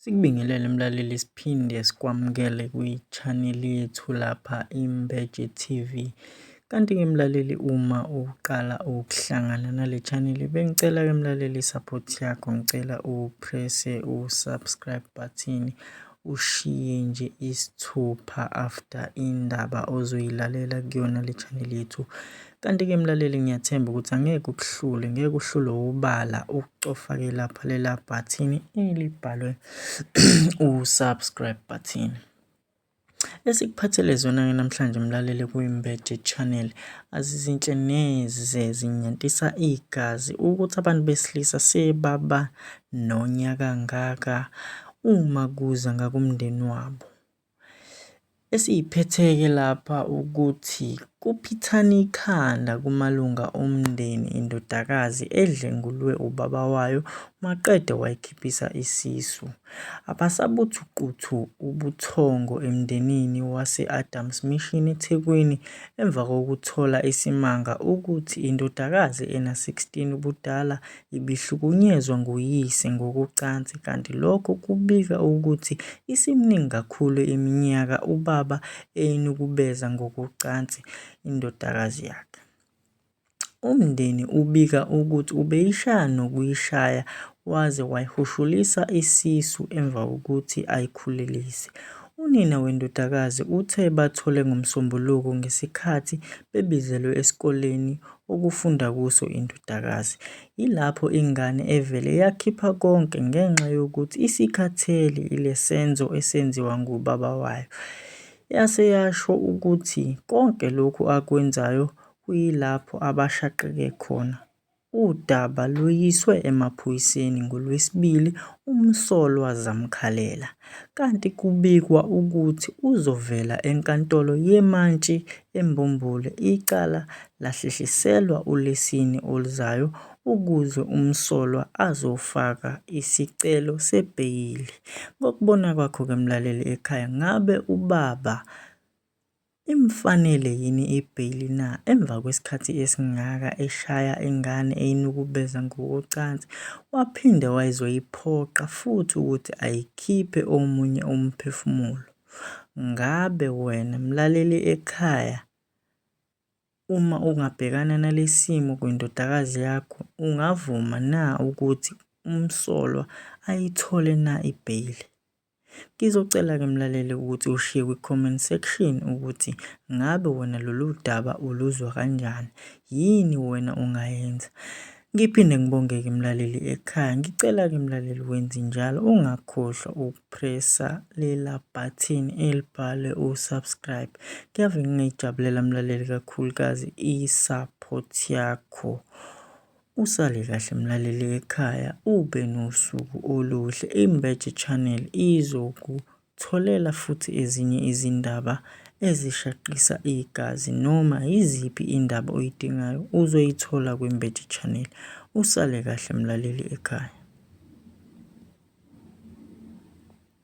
Sikubingelele mlaleli siphinde sikwamukele kwi-channel yethu lapha Imbeje TV. Kanti-ke mlaleli uma uqala ukuhlangana nale channel bengicela-ke mlaleli i-support yakho ngicela uprese u-subscribe button ushiye nje isithupha after indaba ozoyilalela kuyona le channel yethu Kanti-ke mlaleli ngiyathemba ukuthi angeke kukuhlule, ngeke kuhlule ubala ukucofa-ke lapha lela bhathini elibhalwe u-subscribe button. Esikuphathele zona-ke namhlanje mlaleli kwiMbeje Channel azizinhle neze zinyantisa igazi ukuthi abantu besilisa sebaba nonya kangaka uma kuza ngakumndeni wabo. Esiyiphethe-ke lapha ukuthi kuphithana ikhanda kumalunga omndeni indodakazi edlengulwe ubaba wayo maqede wayikhiphisa isisu. Abasabuthu quthu ubuthongo emndenini wase-Adams Mission eThekwini emva kokuthola isimanga ukuthi indodakazi ena-16 ubudala ibihlukunyezwa nguyise ngokocansi kanti lokho kubika ukuthi isiminingi kakhulu iminyaka ubaba eyinukubeza ngokocansi indodakazi yakhe. Umndeni ubika ukuthi ubeyishaya nokuyishaya waze wayihushulisa isisu emva kokuthi ayikhulelise. Unina wendodakazi uthe bathole ngoMsombuluko ngesikhathi bebizelwe esikoleni okufunda kuso indodakazi. Yilapho ingane evele yakhipha konke ngenxa yokuthi isikhathele ilesenzo esenziwa ngubaba wayo. Yase yasho ukuthi konke lokhu akwenzayo kuyilapho abashaqeke khona. Udaba luyiswe emaphoyiseni ngoLwesibili umsolwa zamkhalela. kanti kubikwa ukuthi uzovela eNkantolo yeMantshi eMbumbule icala lahlehliselwa uLwesine oluzayo ukuze umsolwa azofaka isicelo sebheyili. Ngokubona kwakho-ke mlaleli ekhaya ngabe ubaba Imfanele yini ibheyili na emva kwesikhathi esingaka eshaya ingane eyinukubeza ngokocansi waphinde wayizoyiphoqa futhi ukuthi ayikhiphe omunye umphefumulo? Ngabe wena mlaleli ekhaya uma ungabhekana nalesimo kwindodakazi yakho ungavuma na ukuthi umsolwa ayithole na ibheyili? Ngizocela-ke mlaleli ukuthi ushiye kwi-comment section ukuthi ngabe wena lolu daba uluzwa kanjani, yini wena ongayenza. Ngiphinde ngibongeke mlaleli ekhaya, ngicela-ke mlaleli wenze njalo ungakhohlwa ukupresa lela button elibhalwe u-subscribe. Kuyave ngingayijabulela mlaleli kakhulukazi i-support yakho. Usale kahle mlaleli wekhaya ube nosuku oluhle. Imbeje Channel izokutholela futhi ezinye izindaba ezishaqisa igazi noma yiziphi indaba oyidingayo uzoyithola kwiMbeje Channel. Usale kahle mlaleli ekhaya.